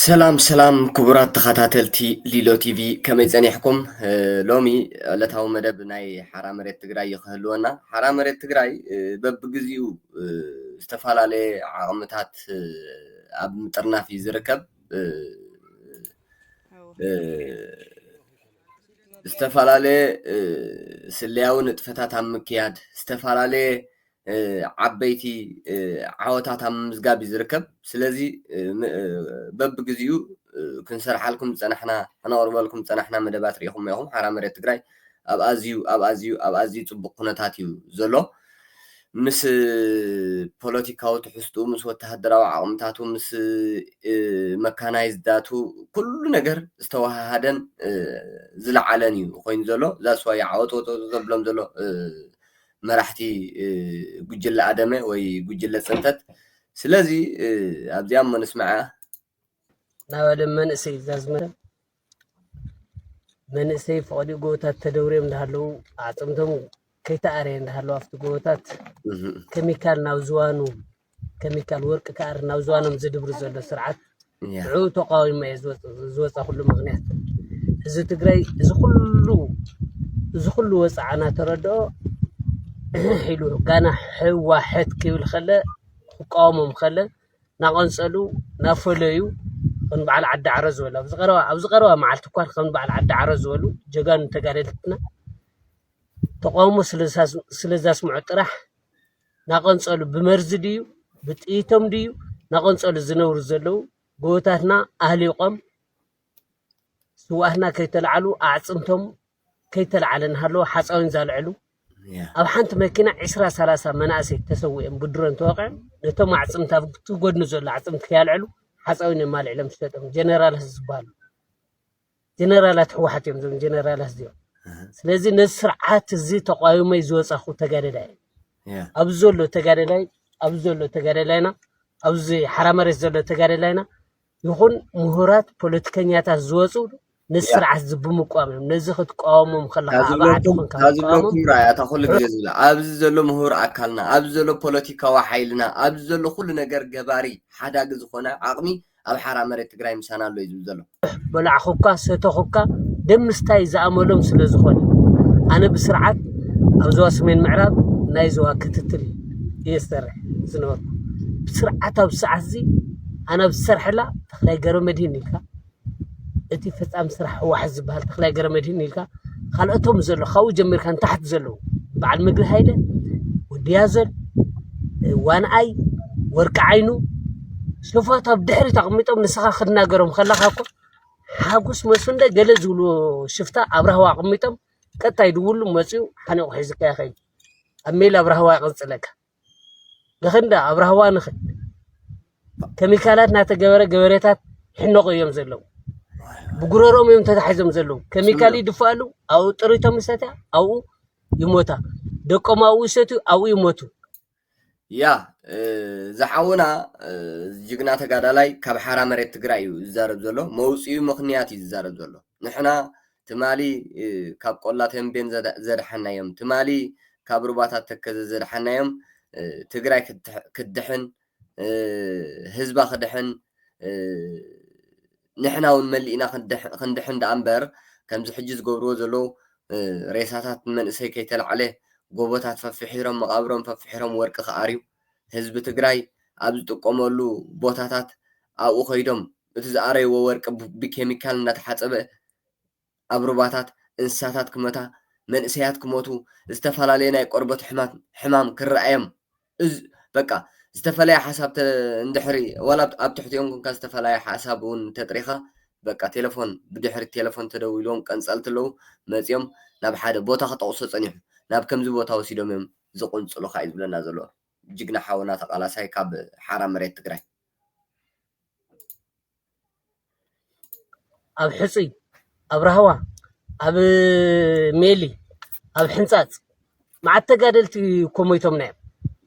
ሰላም ሰላም ክቡራት ተኸታተልቲ ሊሎ ቲቪ ከመይ ፀኒሕኩም? ሎሚ ዕለታዊ መደብ ናይ ሓራ መሬት ትግራይ እዩ ክህልወና። ሓራ መሬት ትግራይ በብግዚኡ ዝተፈላለየ ዓቕምታት ኣብ ምጥርናፍ እዩ ዝርከብ። ዝተፈላለየ ስለያዊ ንጥፈታት ኣብ ምክያድ ዝተፈላለየ ዓበይቲ ዓወታት ኣብ ምምዝጋብ እዩ ዝርከብ። ስለዚ በብግዚኡ ክንሰርሓልኩም ዝጸናሕና ክነቕርበልኩም ዝጸናሕና መደባት ርኢኹሞ ኢኹም። ሓራ መሬት ትግራይ ኣብ ኣዝዩ ኣብ ኣዝዩ ኣብ ኣዝዩ ጽቡቕ ኩነታት እዩ ዘሎ። ምስ ፖለቲካዊ ትሕዝትኡ፣ ምስ ወተሃደራዊ ዓቕምታቱ፣ ምስ መካናይዝዳቱ ኩሉ ነገር ዝተወሃሃደን ዝለዓለን እዩ ኮይኑ ዘሎ። ዛስዋይ ዓወት ወጸወጸ ዘብሎም ዘሎ መራሕቲ ጉጅለ ኣደመ ወይ ጉጅለ ፅንተት ስለዚ ኣብዚኣ እሞ ንስምዓ ናብ ኣደም መንእሰይ ዛዝመረ መንእሰይ ፍቐዲ ጎቦታት ተደውርዮም እንዳሃለዉ ኣዕፅምቶም ከይተኣረየ እንዳሃለዉ ኣብቲ ጎቦታት ኬሚካል ናብ ዝዋኑ ከሚካል ወርቂ ክኣሪ ናብ ዝዋኖም ዝድብሪ ዘሎ ስርዓት ሽዑ ተቃዊሞ እየ ዝወፃኹሉ ምክንያት እዚ ትግራይ እዚ ኩሉ እዚ ኩሉ ወፃዓ እናተረድኦ ሕሕ ኢሉ ጋና ሕዋሕት ክብል ከለ ክቃወሞም ከለ ናቐንፀሉ ናፈለዩ ከም በዓል ዓዲ ዓረ ዝበሉ ኣብዚ ቀረባ ኣብዚ ቀረባ መዓልቲ እኳ ከም በዓል ዓዲ ዓረ ዝበሉ ጀጋኑ ተጋደልትና ተቃውሞ ስለዘስምዑ ጥራሕ ናቐንፀሉ ብመርዚ ድዩ ብጥይቶም ድዩ ናቐንፀሉ ዝነብሩ ዘለዉ ጎቦታትና ኣህሊቖም ስውኣትና ከይተላዕሉ ኣዕፅምቶም ከይተላዕለ እናሃለወ ሓፃዊን ዛልዕሉ ኣብ ሓንቲ መኪና ዕስራ ሰላሳ መናእሰይ ተሰዊኦም ብድሮን ተወቂዖም ነቶም ኣዕፅምቲ ኣብቲ ጎድኒ ዘሎ ኣዕፅምቲ ከያልዕሉ ሓፃዊን እዮም ኣልዒሎም ዝሸጦም ጀነራል ዝበሃሉ ጀነራላት ሕወሓት እዮም ዞም ጀነራላት እዚኦም ስለዚ ነዚ ስርዓት እዚ ተቋዊመይ ዝወፃኹ ተጋደላይ እዩ ኣብ ዘሎ ተጋደላይ ኣብ ዘሎ ተጋደላይና ኣብዚ ሓራ መሬት ዘሎ ተጋደላይና ይኹን ምሁራት ፖለቲከኛታት ዝወፁ ነዚ ስርዓት እዚ ብምቋም እዮም ነዚ ክትቋወሞም ከለካ ኣብ ዓዲ ኮንካ ዝብለኩም ራእያ እታ ኩሉ ግዜ ዝብላ ኣብዚ ዘሎ ምሁር ኣካልና ኣብዚ ዘሎ ፖለቲካዊ ሓይልና ኣብዚ ዘሎ ኩሉ ነገር ገባሪ ሓዳጊ ዝኾነ ዓቕሚ ኣብ ሓራ መሬት ትግራይ ምሳና ኣሎ እዩ ዝብል ዘሎ። በላዕኹካ ሰተኹካ ደም ምስታይ ዝኣመሎም ስለ ዝኾነ ኣነ ብስርዓት ኣብ ዞባ ሰሜን ምዕራብ ናይ ዞባ ክትትል እየ ዝሰርሕ ዝነበርኩ ብስርዓት ኣብ ሰዓት እዚ ኣነ ኣብ ዝሰርሐላ ተኽላይ ገረመድህን ኢልካ እቲ ፈጻሚ ስራሕ ህወሓት ዝበሃል ተኽላይ ገረመድህን ኢልካ ካልኦቶም ዘሎ ካብኡ ጀሚርካ ንታሕቲ ዘለዉ በዓል ምግሪ ሃይለ ወድያዘል ዋንኣይ ወርቂ ዓይኑ ንፋቱ ኣብ ድሕሪት ኣቕሚጦም ንስኻ ክትናገሮም ከለኻ እኮ ሓጎስ መስፍን ዶ ገለ ዝብሉ ሽፍታ ኣብ ራህዋ ኣቕሚጦም ቀጥታ ይድውሉ መፂኡ ሓኒቑ ሒዙካ ይኸይድ ኣብ ሜላ ኣብ ራህዋ ይቕንፅለካ ንኽንዳ ኣብ ራህዋ ንኽን ኬሚካላት እናተገበረ ገበሬታት ይሕነቑ እዮም ዘለዉ ብጉረሮም እዮም ተታሒዞም ዘለዉ ኬሚካል ይድፋኣሉ ኣብኡ ጥሪቶም ይሰትያ ኣብኡ ይሞታ ደቆም ኣብኡ ይሰትዩ ኣብኡ ይሞቱ ያ ዝሓውና ጅግና ተጋዳላይ ካብ ሓራ መሬት ትግራይ እዩ ዝዛረብ ዘሎ መውፅኡ ምክንያት እዩ ዝዛረብ ዘሎ ንሕና ትማሊ ካብ ቆላ ተንቤን ዘድሓናዮም ትማሊ ካብ ሩባታት ተከዘ ዘድሓናዮም ትግራይ ክድሕን ህዝባ ክድሕን ንሕና ውን መሊእና ክንድሕን ደኣ እምበር ከምዚ ሕጂ ዝገብርዎ ዘለዉ ሬሳታት ንመንእሰይ ከይተላዕለ ጎቦታት ፈፍሒሮም መቓብሮም ፈፍሒሮም ወርቂ ክኣርዩ ህዝቢ ትግራይ ኣብ ዝጥቀመሉ ቦታታት ኣብኡ ከይዶም እቲ ዝኣረይዎ ወርቂ ብኬሚካል እንዳተሓጸበ ኣብ ሩባታት እንስሳታት ክመታ፣ መንእሰያት ክሞቱ፣ ዝተፈላለየ ናይ ቆርበት ሕማት ሕማም ክረኣዮም እዝ በቃ ዝተፈለየ ሓሳብ ተ እንድሕሪ ዋላ ኣብ ኣብ ትሕቲኦም ኮንካ ዝተፈላየ ሓሳብ እውን ተጥሪኻ በቃ ቴለፎን ብድሕሪ ቴለፎን ተደዊልዎም ቀንጸልቲ ኣለዉ መጺኦም ናብ ሓደ ቦታ ክጠቕሶ ጸኒሑ ናብ ከምዚ ቦታ ወሲዶም እዮም ዝቕንጽሉኻ እዩ ዝብለና ዘሎ ጅግና ሓውና ተቓላሳይ ካብ ሓራ መሬት ትግራይ። ኣብ ሕፁይ ኣብ ራህዋ ኣብ ሜሊ ኣብ ሕንፃፅ መዓት ተጋደልቲ እኮ ሞይቶምና እዮም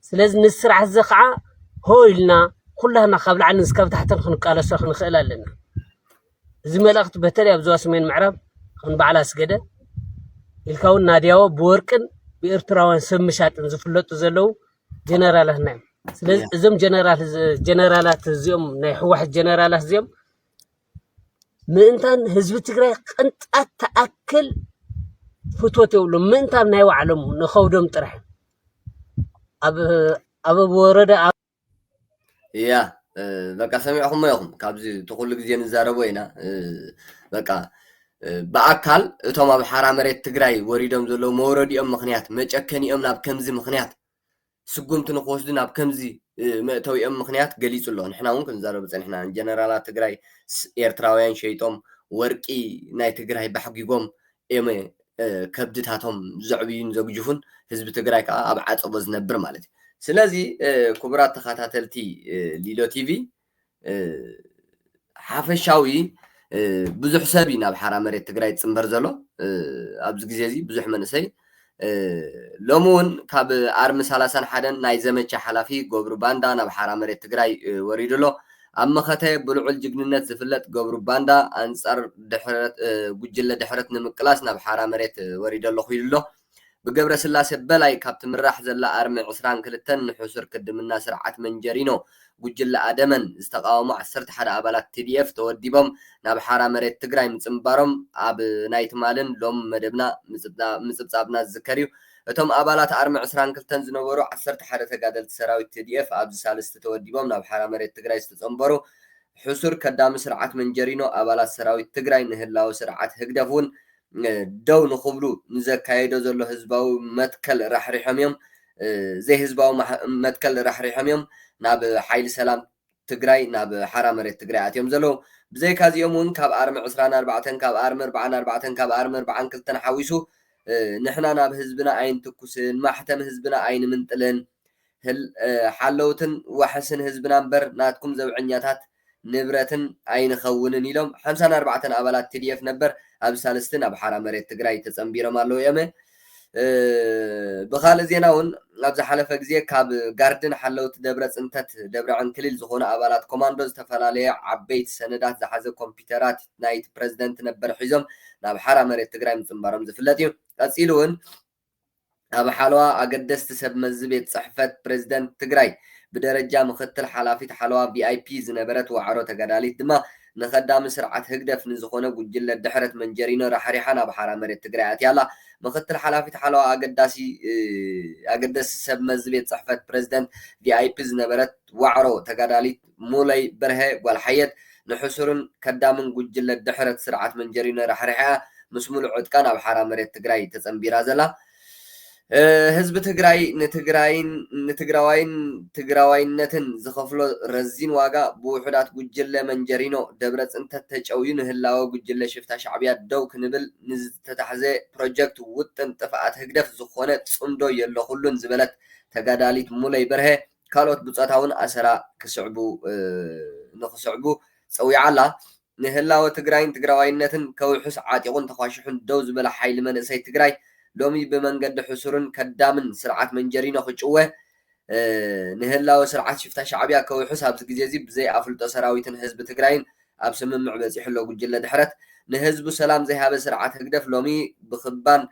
ስለዚ ንዚ ስርዓት እዚ ከዓ ሆ ኢልና ኩላና ካብ ላዕሊ እስካብ ታሕትን ክንቃለሶ ክንኽእል ኣለና እዚ መልእኽቲ በተለይ ኣብ ዞባ ሰሜን ምዕራብ ከም በዓል ኣስገደ ኢልካ እውን ናድያዎ ብወርቅን ብኤርትራውያን ሰብ ምሻጥን ዝፍለጡ ዘለዉ ጀነራላትና እዮም ስለዚ እያ እዞም ጀነራል ጀነራላት እዚኦም ናይ ህወሓት ጀነራላት እዚኦም ምእንታን ህዝቢ ትግራይ ቅንጣት ተኣክል ፍቶት የብሎም ምእንታን ናይ ባዕሎም ንኸብዶም ጥራሕ ኣብ ኣብ ወረዳ እያ በቃ ሰሚዕኹሞ ኢኹም ካብዚ እቲ ኩሉ ግዜ ንዛረቦ ኢና በቃ ብኣካል እቶም ኣብ ሓራ መሬት ትግራይ ወሪዶም ዘለዉ መውረዲኦም ምክንያት መጨከኒኦም ናብ ከምዚ ምክንያት ስጉምቲ ንክወስዱ ናብ ከምዚ መእተዊኦም ምክንያት ገሊፁ ኣሎ ንሕና እውን ክንዛረቡ ፀኒሕና ጀነራላት ትግራይ ኤርትራውያን ሸይጦም ወርቂ ናይ ትግራይ ባሕጊጎም እዮመ ከብድታቶም ዘዕብዩን ዘግጅፉን ህዝቢ ትግራይ ከዓ ኣብ ዓፀቦ ዝነብር ማለት እዩ። ስለዚ ክቡራት ተኸታተልቲ ሊሎ ቲቪ ሓፈሻዊ ብዙሕ ሰብ እዩ ናብ ሓራ መሬት ትግራይ ዝፅምበር ዘሎ ኣብዚ ግዜ እዚ ብዙሕ መንእሰይ ሎሚ እውን ካብ ኣርሚ ሰላሳን ሓደን ናይ ዘመቻ ሓላፊ ገብሩ ባንዳ ናብ ሓራ መሬት ትግራይ ወሪዱ ኣሎ። ኣብ መኸተ ብልዑል ጅግንነት ዝፍለጥ ገብሩ ባንዳ ኣንፃር ጉጅለ ድሕረት ንምቅላስ ናብ ሓራ መሬት ወሪደ ኣለኹ ኢሉ'ሎ። ብገብረስላሴ በላይ ካብ ትምራሕ ዘላ ኣርሚ ዕስራን ክልተን ንሕሱር ክድምና ስርዓት መንጀሪኖ ጉጅለ ኣደመን ዝተቓወሙ ዓሰርተ ሓደ ኣባላት tdf ተወዲቦም ናብ ሓራ መሬት ትግራይ ምጽንባሮም ኣብ ናይ ትማልን ሎምን መደብና ምጽብጻብና ዝዝከር እዩ። እቶም ኣባላት ኣርሚ ዕስራን ክልተን ዝነበሩ ዓሰርተ ሓደ ተጋደልቲ ሰራዊት tdf ኣብዚ ሳልስቲ ተወዲቦም ናብ ሓራ መሬት ትግራይ ዝተጸንበሩ ሕሱር ከዳሚ ስርዓት መንጀሪኖ ኣባላት ሰራዊት ትግራይ ንህላወ ስርዓት ህግደፍ ውን ደው ንኽብሉ ንዘካየዶ ዘሎ ህዝባዊ መትከል ራሕሪሖም እዮም። ዘይህዝባዊ መትከል ራሕሪሖም እዮም ናብ ሓይሊ ሰላም ትግራይ ናብ ሓራ መሬት ትግራይ ኣትዮም ዘለዉ። ብዘይካ እዚኦም እውን ካብ ኣርሚ ዕስራን ኣርባዕተን ካብ ኣርሚ እርባዓን ኣርባዕተን ካብ ኣርሚ እርባዓን ክልተን ሓዊሱ ንሕና ናብ ህዝብና ኣይንትኩስን፣ ማሕተም ህዝብና ኣይንምንጥልን፣ ሓለውትን ዋሕስን ህዝብና እምበር ናትኩም ዘብዐኛታት ንብረትን ኣይንኸውንን ኢሎም ሓምሳን ኣርባዕተን ኣባላት tdf ነበር ኣብ ሳልስቲ ናብ ሓራ መሬት ትግራይ ተፀምቢሮም ኣለው እዮመ። ብኻልእ ዜና እውን ኣብ ዝሓለፈ ግዜ ካብ ጋርድን ሓለውቲ ደብረ ፅንተት ደብረ ዕንክሊል ዝኾኑ ኣባላት ኮማንዶ ዝተፈላለየ ዓበይቲ ሰነዳት ዝሓዘ ኮምፒተራት ናይቲ ፕረዚደንት ነበር ሒዞም ናብ ሓራ መሬት ትግራይ ምፅምባሮም ዝፍለጥ እዩ። ቀፂሉ እውን ኣብ ሓለዋ ኣገደስቲ ሰብ መዚ ቤት ፅሕፈት ፕረዚደንት ትግራይ ብደረጃ ምኽትል ሓላፊት ሓለዋ VIP ዝነበረት ዋዕሮ ተጋዳሊት ድማ ንኸዳሚ ስርዓት ህግደፍ ንዝኾነ ጉጅለ ድሕረት መንጀሪኖ ራሕሪሓ ናብ ሓራ መሬት ትግራይ ኣትያ ኣላ። ምኽትል ሓላፊት ሓለዋ ኣገደስቲ ሰብ መዚ ቤት ፅሕፈት ፕረዚደንት VIP ዝነበረት ዋዕሮ ተጋዳሊት ሙለይ በርሀ ጓል ሓየት ንሕሱርን ከዳምን ጉጅለ ድሕረት ስርዓት መንጀሪኖ ራሕሪሓ ምስ ሙሉእ ዕጥቃ ናብ ሓራ መሬት ትግራይ ተፀምቢራ ዘላ ህዝቢ ትግራይ ንትግራይን ንትግራዋይን ትግራዋይነትን ዝኸፍሎ ረዚን ዋጋ ብውሑዳት ጉጅለ መንጀሪኖ ደብረፅንተት ተጨውዩ ንህላወ ጉጅለ ሽፍታ ሻዕቢያ ደው ክንብል ንዝተታሕዘ ፕሮጀክት ውጥን ጥፍኣት ህግደፍ ዝኾነ ፅምዶ የለኹሉን ዝበለት ተጋዳሊት ሙለይ በርሀ ካልኦት ብጾታ እውን ኣሰራ ክስዕቡ ንኽስዕቡ ጸዊዓ ኣላ። ንህላወ ትግራይን ትግራዋይነትን ከውሕስ ዓጢቑን ተዃሺሑን ደው ዝበለ ሓይሊ መንእሰይ ትግራይ ሎሚ ብመንገዲ ሕሱርን ከዳምን ስርዓት መንጀሪኖ ክጭወ ንህላወ ስርዓት ሽፍታ ሻዕቢያ ከውሕስ ኣብዚ ግዜ'ዚ ብዘይ ኣፍልጦ ሰራዊትን ህዝቢ ትግራይን ኣብ ስምምዕ በጺሑ'ሎ ጉጅለ ድሕረት። ንህዝቡ ሰላም ዘይሃበ ስርዓት ህግደፍ ሎሚ ብክባን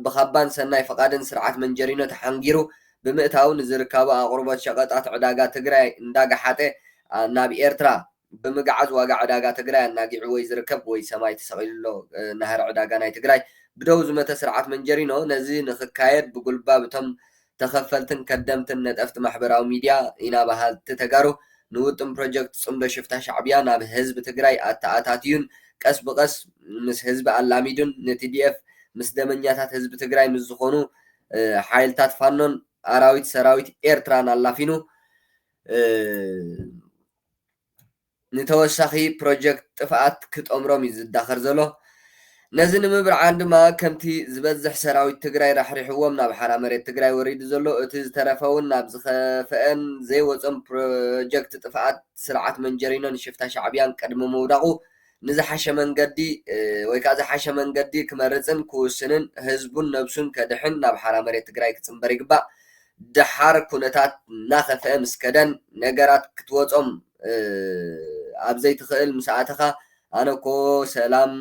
ብካባን ሰናይ ፍቓድን ስርዓት መንጀሪኖ ተሓንጊሩ ብምእታዉ ንዝርካቡ ኣቕርቦት ሸቐጣት ዕዳጋ ትግራይ እንዳገሓጠ ናብ ኤርትራ ብምግዓዝ ዋጋ ዕዳጋ ትግራይ ኣናጊዑ ወይ ዝርከብ ወይ ሰማይ ተሰቒሉ'ሎ ናህሪ ዕዳጋ ናይ ትግራይ ብደዉ ዝመተ ስርዓት መንጀሪኖ ነዚ ንክካየድ ብጉልባብ እቶም ተኸፈልትን ከደምትን ነጠፍቲ ማሕበራዊ ሚድያ ኢና በሃልቲ ተጋሩ ንውጥን ፕሮጀክት ፅምዶ ሽፍታ ሻዕብያ ናብ ህዝቢ ትግራይ ኣተኣታትዩን ቀስ ብቐስ ምስ ህዝቢ ኣላሚዱን ንቲዲኤፍ ምስ ደመኛታት ህዝቢ ትግራይ ምስ ዝኾኑ ሓይልታት ፋኖን ኣራዊት ሰራዊት ኤርትራን ኣላፊኑ ንተወሳኺ ፕሮጀክት ጥፍኣት ክጠምሮም እዩ ዝዳኸር ዘሎ። ነዚ ንምብርዓን ድማ ከምቲ ዝበዝሕ ሰራዊት ትግራይ ራሕሪሕዎም ናብ ሓራ መሬት ትግራይ ወሪዱ ዘሎ እቲ ዝተረፈውን ናብ ዝኸፈኤን ዘይወፆም ፕሮጀክት ጥፍኣት ስርዓት መንጀሪኖን ሽፍታ ሻዕብያን ቅድሚ ምውዳቑ ንዝሓሸ መንገዲ ወይ ከዓ ዝሓሸ መንገዲ ክመርፅን ክውስንን ህዝቡን ነብሱን ከድሕን ናብ ሓራ መሬት ትግራይ ክፅምበር ይግባእ። ደሓር ኩነታት እናኸፍኣ ምስ ከደን ነገራት ክትወጾም ኣብ ዘይትኽእል ምስ ኣተኻ ኣነኮ ሰላም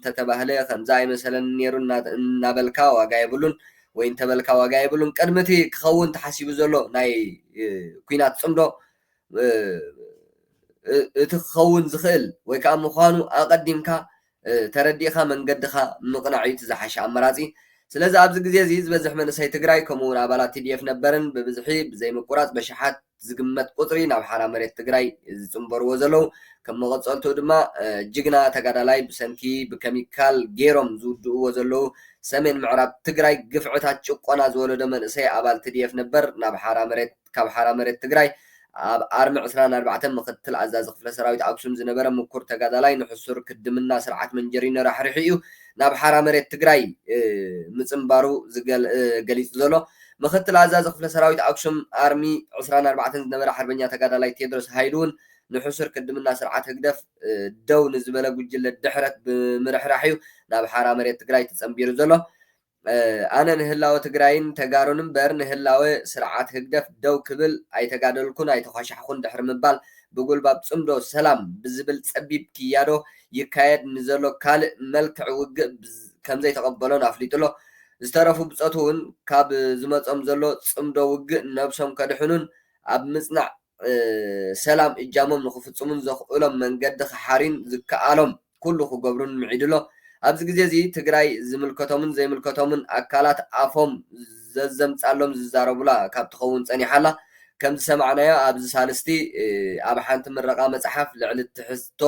ተተባህለ ከምዚ ኣይመሰለንን ኔሩ እናበልካ ዋጋ የብሉን ወይ እንተበልካ ዋጋ የብሉን ቅድሚ እቲ ክኸውን ተሓሲቡ ዘሎ ናይ ኩናት ጽምዶ እቲ ክኸውን ዝኽእል ወይ ከዓ ምዃኑ ኣቐዲምካ ተረዲእኻ መንገድኻ ምቕናዕ እዩ እቲ ዝሓሸ ኣመራጺ። ስለዚ ኣብዚ ግዜ እዚ ዝበዝሕ መንእሰይ ትግራይ ከምኡ እውን ኣባላት tdf ነበርን ብብዝሒ ብዘይምቁራጽ በሽሓት ዝግመት ቁጽሪ ናብ ሓራ መሬት ትግራይ ዝጽንበርዎ ዘለው ከም መቐጸልትኡ ድማ ጅግና ተጋዳላይ ብሰንኪ ብከሚካል ገይሮም ዝውድእዎ ዘለው ሰሜን ምዕራብ ትግራይ ግፍዕታት ጭቆና ዝወለዶ መንእሰይ ኣባል tdf ነበር ናብ ሓራ መሬት ካብ ሓራ መሬት ትግራይ ኣብ ኣርሚ ዕስራን ኣርባዕተን ምኽትል ኣዛዚ ክፍለ ሰራዊት ኣክሱም ዝነበረ ምኩር ተጋዳላይ ንሕሱር ክድምና ስርዓት መንጀሪኖ ራሕሪሑ እዩ ናብ ሓራ መሬት ትግራይ ምፅንባሩ ገሊፁ ዘሎ ምኽትል ኣዛዚ ክፍለ ሰራዊት ኣክሱም ኣርሚ ዕስራን ኣርባዕተን ዝነበረ ሓርበኛ ተጋዳላይ ቴድሮስ ሃይሉ እውን ንሕሱር ክድምና ስርዓት ህግደፍ ደው ንዝበለ ጉጅለ ድሕረት ብምርሕራሕ እዩ ናብ ሓራ መሬት ትግራይ ተፀንቢሩ ዘሎ ኣነ ንህላወ ትግራይን ተጋሩን እምበር ንህላወ ስርዓት ህግደፍ ደው ክብል ኣይተጋደልኩን ኣይተዃሻሕኹን ድሕሪ ምባል ብጉልባብ ፅምዶ ሰላም ብዝብል ፀቢብ ክያዶ ይካየድ ንዘሎ ካልእ መልክዕ ውግእ ከምዘይተቐበሎን ኣፍሊጡ'ሎ። ዝተረፉ ብፆት'ውን ካብ ዝመፆም ዘሎ ፅምዶ ውግእ ነብሶም ከድሕኑን ኣብ ምፅናዕ ሰላም እጃሞም ንኽፍጽሙን ዘኽእሎም መንገዲ ክሓርዩን ዝከኣሎም ኩሉ ክገብሩን ምዒዱ'ሎ። ኣብዚ ግዜ'ዚ ትግራይ ዝምልከቶምን ዘይምልከቶምን ኣካላት ኣፎም ዘዘምጻሎም ዝዛረቡላ ካብ ትኸውን ጸኒሓ'ላ። ከምዝሰማዕናዮ ኣብዚ ሳልስቲ ኣብ ሓንቲ ምረቓ መጽሓፍ ልዕሊ ትሕዝቶ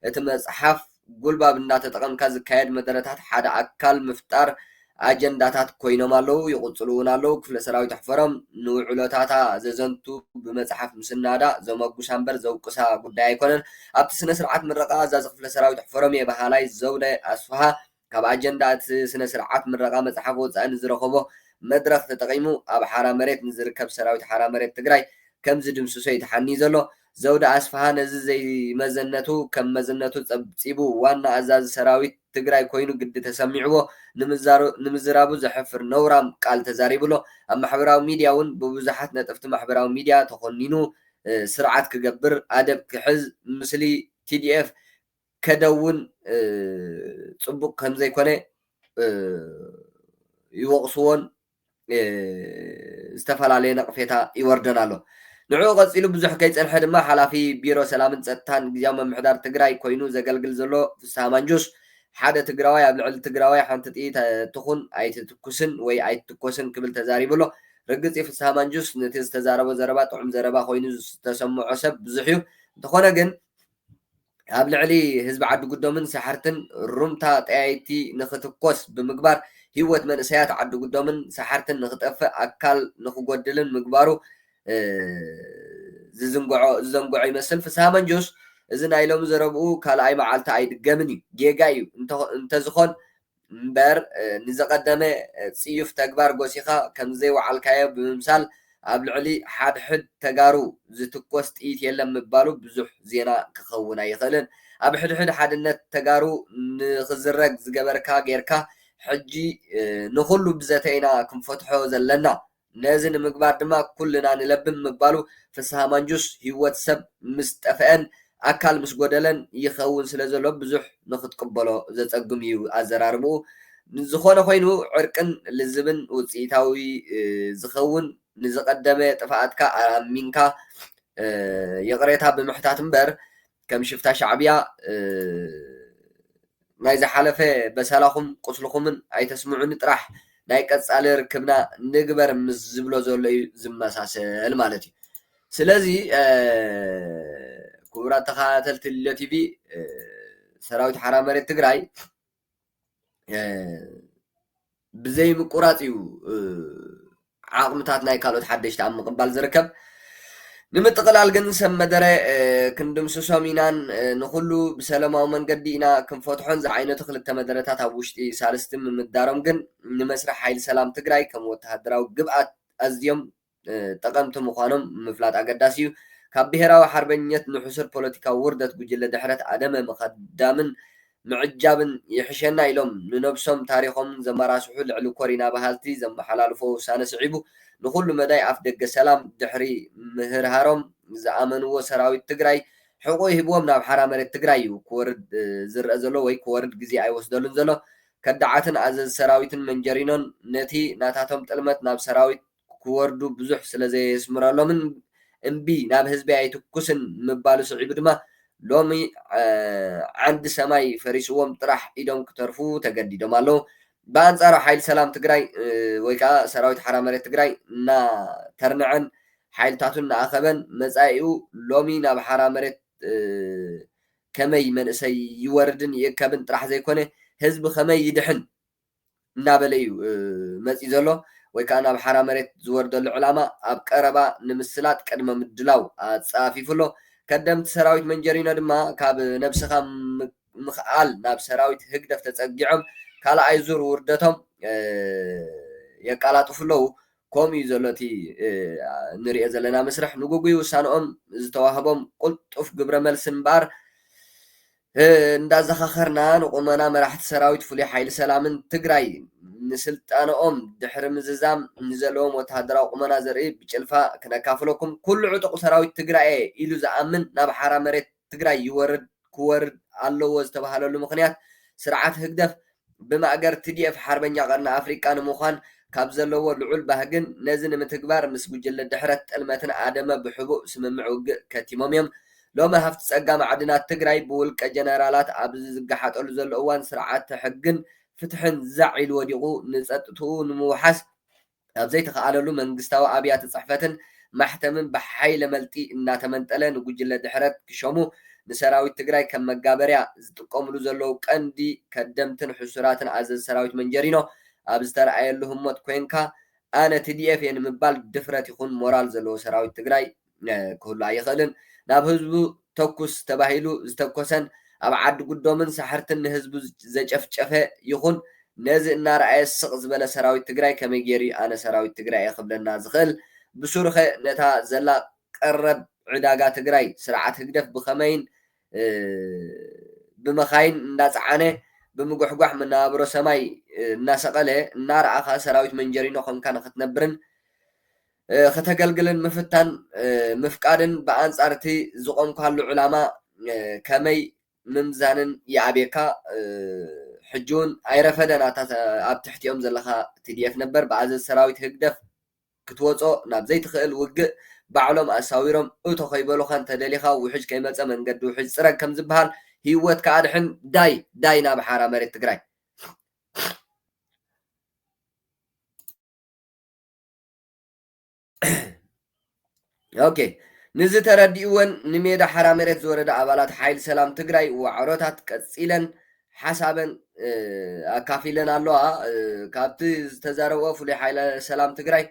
እቲ መጽሓፍ ጉልባብ እንዳተጠቐምካ ዝካየድ መደረታት ሓደ ኣካል ምፍጣር ኣጀንዳታት ኮይኖም ኣለዉ፣ ይቕጽሉ እውን ኣለዉ። ክፍለ ሰራዊት ኣሕፈሮም ንውዕሎታታ ዘዘንቱ ብመጽሓፍ ምስናዳ ዘመጉሳ እምበር ዘውቅሳ ጉዳይ ኣይኮነን። ኣብቲ ስነ ስርዓት ምረቓ ኣዛዚ ክፍለ ሰራዊት ኣሕፈሮም'የ በሃላይ ዘውደ ኣስፍሃ ካብ ኣጀንዳ እቲ ስነ ስርዓት ምረቓ መጽሓፍ ወጻኢ ንዝረኸቦ መድረኽ ተጠቒሙ ኣብ ሓራ መሬት ንዝርከብ ሰራዊት ሓራ መሬት ትግራይ ከምዝድምስሶ'ዩ ተሓንዩ ዘሎ። ዘውዲ ኣስፍሃ ነዚ ዘይመዘነቱ ከም መዝነቱ ፀብፂቡ ዋና ኣዛዚ ሰራዊት ትግራይ ኮይኑ ግዲ ተሰሚዕዎ ንምዝራቡ ዘሕፍር ነውራም ቃል ተዛሪቡ'ሎ። ኣብ ማሕበራዊ ሚድያ እውን ብብዙሓት ነጠፍቲ ማሕበራዊ ሚድያ ተኾኒኑ ስርዓት ክገብር፣ ኣደብ ክሕዝ፣ ምስሊ TDF ከደውን ፅቡቕ ከምዘይኮነ ይወቕስዎን ዝተፈላለየ ነቕፌታ ይወርደን ኣሎ። ንዕኡ ቀፂሉ ብዙሕ ከይፀንሐ ድማ ሓላፊ ቢሮ ሰላምን ፀጥታን ግዝያዊ ምምሕዳር ትግራይ ኮይኑ ዘገልግል ዘሎ ፍስሃ ማንጁስ ሓደ ትግራዋይ ኣብ ልዕሊ ትግራዋይ ሓንቲ ጥይት ትኹን ኣይትትኩስን ወይ ኣይትትኮስን ክብል ተዛሪቡ ኣሎ። ርግፅ እዩ ፍስሃ ማንጁስ ነቲ ዝተዛረቦ ዘረባ ጥዑም ዘረባ ኮይኑ ዝተሰምዖ ሰብ ብዙሕ እዩ። እንተኾነ ግን ኣብ ልዕሊ ህዝቢ ዓዲጉዶምን ሰሓርትን ሩምታ ጠያይቲ ንኽትኮስ ብምግባር ህይወት መንእሰያት ዓዲጉዶምን ሰሓርትን ንኽጠፍእ ኣካል ንኽጎድልን ምግባሩ ዝዝንግዖ ዝዘንግዖ ይመስል ፍስሃ መንጁስ እዚ ናይ ሎሚ ዘረብኡ ካልኣይ መዓልቲ ኣይድገምን እዩ ጌጋ እዩ እንተ እንተዝኾን እምበር ንዘቐደመ ጽዩፍ ተግባር ጎሲኻ ከምዘይወዓልካዮ ብምምሳል ኣብ ልዕሊ ሓድሕድ ተጋሩ ዝትኮስ ጥይት የለን ምባሉ ብዙሕ ዜና ክኸውን ኣይኽእልን። ኣብ ሕድሕድ ሓድነት ተጋሩ ንኽዝረግ ዝገበርካ ጌርካ ሕጂ ንኹሉ ብዘተ ኢና ክንፈትሖ ዘለና። ነዚ ንምግባር ድማ ኩልና ንለብም ምባሉ ፍስሃ ማንጁስ ህይወት ሰብ ምስ ጠፈኤን ኣካል ምስ ጎደለን ይኸውን ስለዘሎ ብዙሕ ንኽትቅበሎ ዘጸግም እዩ ኣዘራርብኡ ዝኾነ ኮይኑ ዕርቅን ልዝብን ውጽኢታዊ ዝኸውን ንዝቐደመ ጥፍኣትካ ኣሚንካ ይቕሬታ ብምሕታት እምበር ከም ሽፍታ ሻዕብያ ናይ ዝሓለፈ በሰላኹም ቁስልኹምን ኣይተስምዑኒ ጥራሕ ናይ ቀጻሊ ርክብና ንግበር ምስ ዝብሎ ዘሎ እዩ ዝመሳሰል ማለት እዩ። ስለዚ ክቡራት ተኸታተልቲ ልደት ቲቪ ሰራዊት ሓራ መሬት ትግራይ ብዘይምቁራፅ እዩ ዓቕምታት ናይ ካልኦት ሓደሽቲ ኣብ ምቕባል ዝርከብ ንምጥቕላል ግን ሰብ መደረ ክንድምስሶም ኢናን ንኩሉ ብሰለማዊ መንገዲ ኢና ክንፈትሖን ዝዓይነቱ ክልተ መደረታት ኣብ ውሽጢ ሳልስቲ ምምዳሮም ግን ንመስርሕ ሓይሊ ሰላም ትግራይ ከም ወተሃደራዊ ግብኣት ኣዝዮም ጠቐምቲ ምዃኖም ምፍላጥ ኣገዳሲ እዩ። ካብ ብሄራዊ ሓርበኝነት ንሕሱር ፖለቲካዊ ውርደት ጉጅለ ድሕረት ኣደመ ምኸዳምን ምዕጃብን ይሕሸና ኢሎም ንነብሶም ታሪኾምን ዘመራስሑ ልዕሊ ኮሪና በሃልቲ ዘመሓላልፎ ውሳነ ስዒቡ ንኹሉ መዳይ ኣፍደገ ሰላም ድሕሪ ምህርሃሮም ዝኣመንዎ ሰራዊት ትግራይ ሕቖኡ ሂብዎም ናብ ሓራ መሬት ትግራይ እዩ ክወርድ ዝረኣ ዘሎ ወይ ክወርድ ግዜ ኣይወስደሉን ዘሎ ከዳዓትን ኣዘዚ ሰራዊትን መንጀሪኖን ነቲ ናታቶም ጥልመት ናብ ሰራዊት ክወርዱ ብዙሕ ስለ ዘየስምረሎምን እምቢ ናብ ህዝቢ ኣይትኩስን ምባሉ ስዒቡ ድማ ሎሚ ዓንዲ ሰማይ ፈሪስዎም ጥራሕ ኢዶም ክተርፉ ተገዲዶም ኣለዉ። ብኣንፃሩ ሓይሊ ሰላም ትግራይ ወይ ከዓ ሰራዊት ሓራ መሬት ትግራይ እናተርነዐን ሓይልታቱ እናኣኸበን መፃኢኡ ሎሚ ናብ ሓራ መሬት ከመይ መንእሰይ ይወርድን ይእከብን ጥራሕ ዘይኮነ ህዝቢ ከመይ ይድሕን እናበለ እዩ መጺኡ ዘሎ ወይ ከኣ ናብ ሓራ መሬት ዝወርደሉ ዕላማ ኣብ ቀረባ ንምስላጥ ቅድመ ምድላው ኣጻፊፉ ኣሎ። ከደምቲ ሰራዊት መንጀሪኖ ድማ ካብ ነብስኻ ምኽኣል ናብ ሰራዊት ህግደፍ ተጸጊዖም ካልኣይ ዙር ውርደቶም የቃላጥፉ ኣለዉ። ከምኡ እዩ ዘሎ እቲ ንርእዮ ዘለና መስርሕ። ንጉጉይ ውሳነኦም ዝተዋህቦም ቁልጡፍ ግብረ መልሲ እምበኣር፣ እንዳዘኻኸርና ንቁመና መራሕቲ ሰራዊት ፍሉይ ሓይሊ ሰላምን ትግራይ ንስልጠነኦም ድሕሪ ምዝዛም ንዘለዎም ወተሃደራዊ ቁመና ዘርኢ ብጭልፋ ክነካፍለኩም ኩሉ ዕጡቕ ሰራዊት ትግራይ'የ ኢሉ ዝኣምን ናብ ሓራ መሬት ትግራይ ይወርድ ክወርድ ኣለዎ ዝተባሃለሉ ምኽንያት ስርዓት ህግደፍ ብማእገር ትዲኤፍ ሓርበኛ ቀርኒ ኣፍሪቃ ንምዃን ካብ ዘለዎ ልዑል ባህግን ነዚ ንምትግባር ምስ ጉጅለ ድሕረት ጥልመትን ኣደመ ብሕቡእ ስምምዕ ውግእ ከቲሞም እዮም። ሎሚ ሃፍቲ ጸጋ ማዕድናት ትግራይ ብውልቀ ጀነራላት ኣብዚ ዝገሓጠሉ ዘሎ እዋን ስርዓተ ሕግን ፍትሕን ዛዕ ኢሉ ወዲቑ ንጸጥትኡ ንምውሓስ ኣብ ዘይተኸኣለሉ መንግስታዊ ኣብያተ ፅሕፈትን ማሕተምን ብሓይለ መልጢ እናተመንጠለ ንጉጅለ ድሕረት ክሸሙ ንሰራዊት ትግራይ ከም መጋበርያ ዝጥቀምሉ ዘለዉ ቀንዲ ከደምትን ሕሱራትን ኣዘዚ ሰራዊት መንጀሪኖ ኣብ ዝተርኣየሉ ህሞት ኮይንካ ኣነ tdf እየ ንምባል ድፍረት ይኹን ሞራል ዘለዎ ሰራዊት ትግራይ ክህሉ ኣይኽእልን። ናብ ህዝቡ ተኩስ ተባሂሉ ዝተኮሰን ኣብ ዓዲ ጉዶምን ሳሕርትን ንህዝቡ ዘጨፍጨፈ ይኹን ነዚ እናረኣየ ስቕ ዝበለ ሰራዊት ትግራይ ከመይ ገይሩ'ዩ ኣነ ሰራዊት ትግራይ'የ ክብለና ዝኽእል? ብሱሩኸ ነታ ዘላ ቀረብ ዕዳጋ ትግራይ ስርዓት ህግደፍ ብኸመይን ብመኻይን እንዳጸዓነ ብምጉሕጓሕ መነባብሮ ሰማይ እናሰቐለ እናረኣኻ ሰራዊት መንጀሪኖ ኮንካ ንኽትነብርን ክተገልግልን ምፍታን ምፍቃድን ብኣንጻር እቲ ዝቖምካሉ ዕላማ ከመይ ምምዛንን ይኣብየካ። ሕጂውን ኣይረፈደን ኣታ ኣብ ትሕቲኦም ዘለኻ tdf ነበር ብኣዘዝ ሰራዊት ህግደፍ ክትወጾ ናብ ዘይትኽእል ውግእ ባዕሎም ኣሳዊሮም እቶ ከይበሉኻ እንተደሊኻ ውሕጅ ከይመጸ መንገዲ ውሕጅ ጽረግ ከምዝብሃል ሂወትካ ኣድሕን ዳይ ዳይ ናብ ሓራ መሬት ትግራይ። ኦኬ ንዚ ተረዲኡወን ንሜዳ ሓራ መሬት ዝወረዳ ኣባላት ሓይል ሰላም ትግራይ ዋዕሮታት ቀፂለን ሓሳበን ኣካፊለን ኣለዋ ካብቲ ዝተዛረብኦ ፍሉይ ሓይለ ሰላም ትግራይ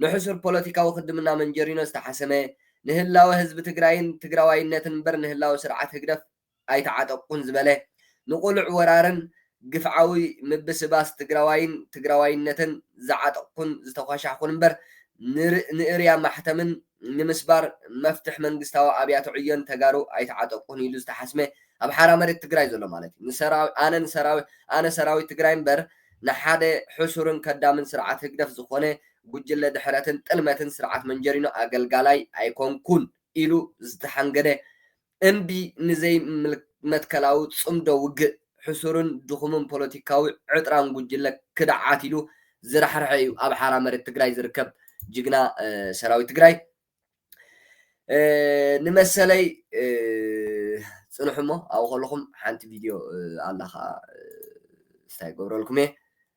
ንሕሱር ፖለቲካዊ ክድምና መንጀሪኖ ዝተሓሰመ ንህላወ ህዝቢ ትግራይን ትግራዋይነትን እምበር ንህላወ ስርዓት ህግደፍ ኣይተዓጠቅኩን ዝበለ ንቁሉዕ ወራርን ግፍዓዊ ምብስባስ ትግራዋይን ትግራዋይነትን ዝዓጠቅኩን ዝተኳሻሕኩን እምበር ንእርያ ማሕተምን ንምስባር መፍትሕ መንግስታዊ ኣብያተ ዕዮን ተጋሩ ኣይተዓጠቅኩን ኢሉ ዝተሓስመ ኣብ ሓራ መሬት ትግራይ ዘሎ ማለት እዩ ኣነ ሰራዊት ትግራይ እምበር ንሓደ ሕሱርን ከዳምን ስርዓት ህግደፍ ዝኾነ ጉጅለ ድሕረትን ጥልመትን ስርዓት መንጀሪኖ ኣገልጋላይ ኣይኮንኩን ኢሉ ዝተሓንገደ እምቢ ንዘይመትከላዊ ጽምዶ ውግእ፣ ሕሱርን ድኹምን ፖለቲካዊ ዕጥራን ጉጅለ ክድዓት ኢሉ ዝራሕርሐ እዩ ኣብ ሓራ መሬት ትግራይ ዝርከብ ጅግና ሰራዊት ትግራይ። ንመሰለይ ጽንሑ እሞ ኣብኡ ከለኹም ሓንቲ ቪድዮ ኣላ ከኣ ስታይ ክገብረልኩም እየ።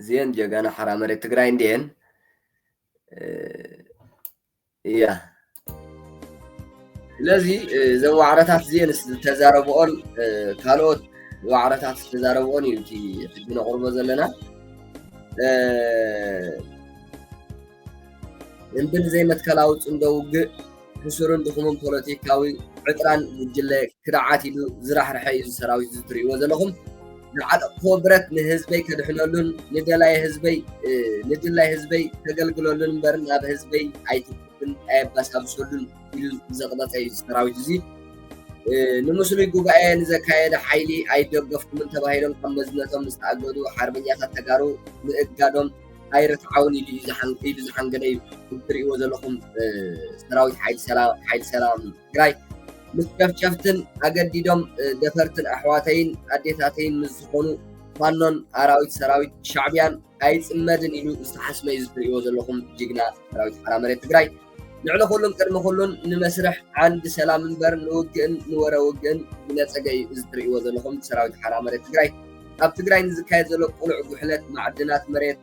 እዚኤን ጀጋኑ ሓራ መሬት ትግራይ እንዲኤን እያ ስለዚ እዘን ዋዕረታት እዚኤን ዝተዛረብኦን ካልኦት ዋዕረታት ዝተዛረብኦን እዩ እቲ ሕጂ ነቕርቦ ዘለና ልምድን ዘይመትከላዊ ጽምዶ ውግእ ሕሱርን ድኹምን ፖለቲካዊ ዕጥራን ጉጅለ ክድዓት ኢሉ ዝራሕርሐ እዩ ሰራዊት እዚ ትርእይዎ ዘለኹም ዝዓጠቕክዎ ብረት ንህዝበይ ከድሕነሉን ንደላይ ህዝበይ ንድላይ ህዝበይ ከገልግለሉን እምበር ናብ ህዝበይ ኣይትኩብን ኣየባሳብሰሉን ኢሉ ዘቕበፀ እዩ ሰራዊት እዚ ንምስሉይ ጉባኤ ንዘካየደ ሓይሊ ኣይደገፍኩምን ተባሂሎም ካብ መዝነቶም ዝተኣገዱ ሓርበኛታት ተጋሩ ምእጋዶም ኣይርትዓውን ኢሉ እዩ ዝሓን- ኢሉ ዝሓንገደ እዩ እዚ ትሪእዎ ዘለኹም እ፣ ሰራዊት ሓይሊ ሰላም ሓይሊ ሰላም ትግራይ ምስ ጨፍጨፍትን ኣገዲዶም እ፣ ደፈርትን ኣሕዋተይን ኣዴታተይን ምስ ዝኾኑ ፋኖን ኣራዊት ሰራዊት ሻዕቢያን ኣይፅመድን ኢሉ ዝተሓስመ እዩ እዚ ትሪእዎ ዘለኹም ጅግና ሰራዊት ሓራ መሬት ትግራይ ልዕሊ ኩሉን ቅድሚ ኩሉን ንመስርሕ ዓንዲ ሰላም እምበር ንውግእን ንወረ ውግእን ብነፀገ እዩ እዚ ትርእይዎ ዘለኹም ሰራዊት ሓራ መሬት ትግራይ ኣብ ትግራይ ንዝካየድ ዘሎ ቁሉዕ ጉሕለት ማዕድናት መሬት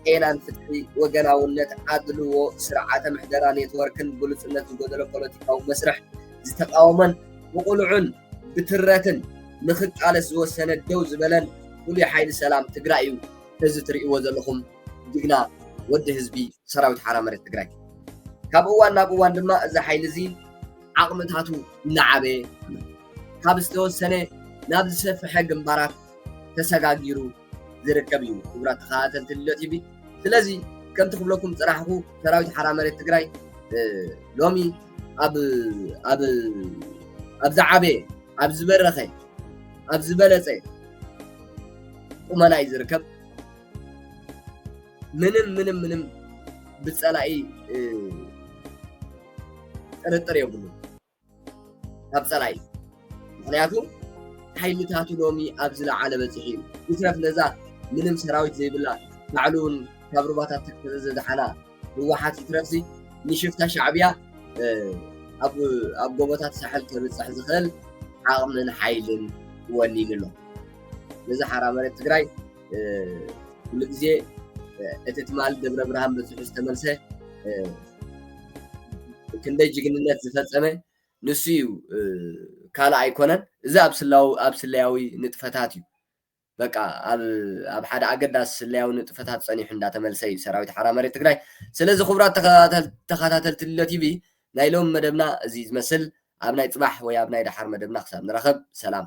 ጤናን ፍትሒ ወገናውነት ኣድልዎ ስርዓተ ምሕደራ ኔትወርክን ግሉፅነት ዝጎደሎ ፖለቲካዊ መስርሕ ዝተቃወመን ብቁልዑን ብትረትን ንክቃለስ ዝወሰነ ደው ዝበለን ፍሉይ ሓይሊ ሰላም ትግራይ እዩ እዚ ትርእይዎ ዘለኹም ጅግና ወዲ ህዝቢ ሰራዊት ሓራ መሬት ትግራይ ካብ እዋን ናብ እዋን ድማ እዚ ሓይሊ እዚ ዓቕምታቱ እናዓበየ ካብ ዝተወሰነ ናብ ዝሰፍሐ ግንባራት ተሰጋጊሩ ዝርከብ እዩ ክቡራት ተኸታተልቲ ልሎ ቲቪ ስለዚ ከምቲ ክብለኩም ፅናሕኹ ሰራዊት ሓራ መሬት ትግራይ ሎሚ ኣብ ኣብ ኣብ ዝዓበየ ኣብ ዝበረኸ ኣብ ዝበለፀ ቁመና እዩ ዝርከብ ምንም ምንም ምንም ብፀላኢ ጥርጥር የብሉ ካብ ፀላኢ ምክንያቱ ሓይልታቱ ሎሚ ኣብ ዝለዓለ በፂሒ እዩ ይትረፍ ነዛ ምንም ሰራዊት ዘይብላ ባዕሉ እውን ካብ ሩባታት ተክተዘ ዘድሓና ህወሓት ይትረፍሲ ንሽፍታ ሻዕብያ ኣብ ጎቦታት ሳሕል ከብፅሕ ዝኽእል ዓቕምን ሓይልን ወኒኑ ኣሎ ነዚ ሓራ መሬት ትግራይ ኩሉ ግዜ እቲ ትማል ደብረ ብርሃን በፂሑ ዝተመልሰ ክንደይ ጅግንነት ዝፈፀመ ንሱ እዩ ካልእ ኣይኮነን እዚ ኣብ ስላው ኣብ ስለያዊ ንጥፈታት እዩ በቃ ኣብ ኣብ ሓደ ኣገዳሲ ስለያዊ ንጥፈታት ፀኒሑ እንዳተመልሰ እዩ ሰራዊት ሓራ መሬት ትግራይ ስለዚ ክቡራት ተኸታተልቲ ልሎ ቲቪ ናይ ሎም መደብና እዚ ዝመስል ኣብ ናይ ፅባሕ ወይ ኣብ ናይ ደሓር መደብና ክሳብ ንራኸብ ሰላም